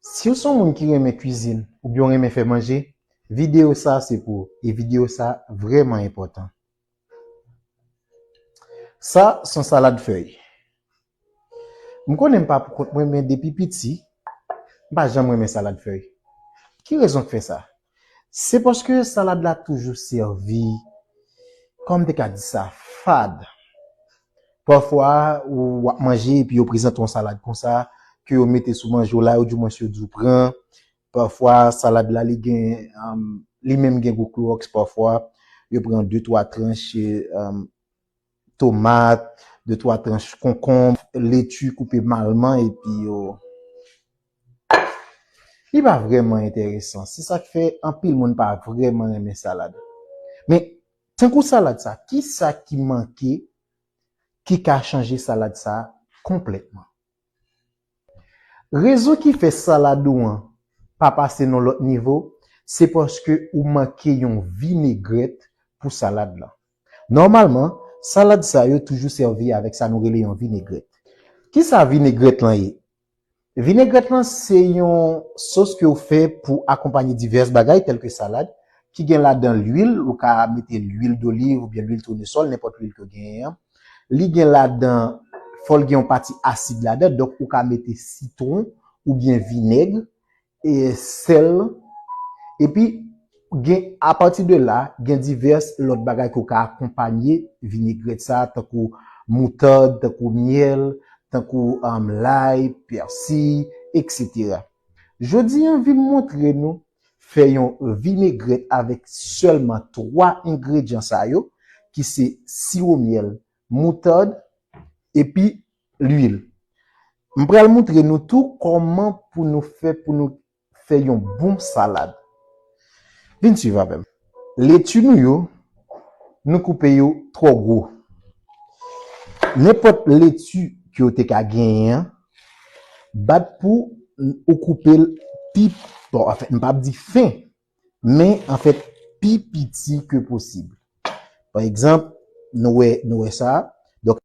Siw son moun ki renmen kwizin oubyen ou renmen fè manje video sa se pou ou e video sa vrèman enpòtan. Sa son salad fèy. M konnen m pa pou kont mwen men depi piti m pa janm renmen salad fèy. Ki rezon k fè sa? Se paske salad la toujou sèvi, kòman m te ka di sa, fad. Pafwa ou ap manje epi yo prezante w yon salad konsa, ke yo mete sou manje w la, oudimwens yo di w pran. Pafwa salad la li gen, li menm gen gou klowòks pafwa. Yo pran de twa tranche. tomat, de twa tranch konkonb, leti koupe malman epi yo li pa vrèman enteresan se sak fè anpil moun pa vrèman renmen salad men tankou salad sa kisa ki manke ki ka chanje salad sa konplètman. Rezon ki fè salad ou an pa pase nan lòt nivo, se paske ou manke yon vinegrèt pou salad lan. Nòmalman, salad sa yo toujou sèvi avèk sa nou rele yon vinegrèt. Kisa vinegrèt lan ye? Vinegrèt lan se yon sos ke ou fè pou akonpanye divès bagay tèlke salad, ki gen ladan lwil, ou ka mete lwil doliv oubyen lwil tounesòl, nenpòt lwil ke w genyen an. Li gen ladan, fò l gen yon pati asid ladan, donk ou ka mete sitwon oubyen vinèg, e sèl, epi gen apati de la, gen divès lòt bagay ke w ka akonpanye vinegrèt sa a tankou moutad, tankou myèl, tankou lay, pèsiy, eksetera. Jodi an vin montre nou. Fè yon vinegrèt avèk sèlman 3 engredyan sa yo ki se siwo myèl, moutard epi lwil. M pral moutre nou tou kòman pou nou fè pou nou fè yon bon salad. Vin swiv avè m. Leti nou yo, nou koupe yo twò gwo. Nenpòt leti ke w te ka genyen an, Bat pou ou koupe l pi bon anfèt m pap di fen men anfèt pi piti ke posib. Pa egzanp nou wè nou wè sa.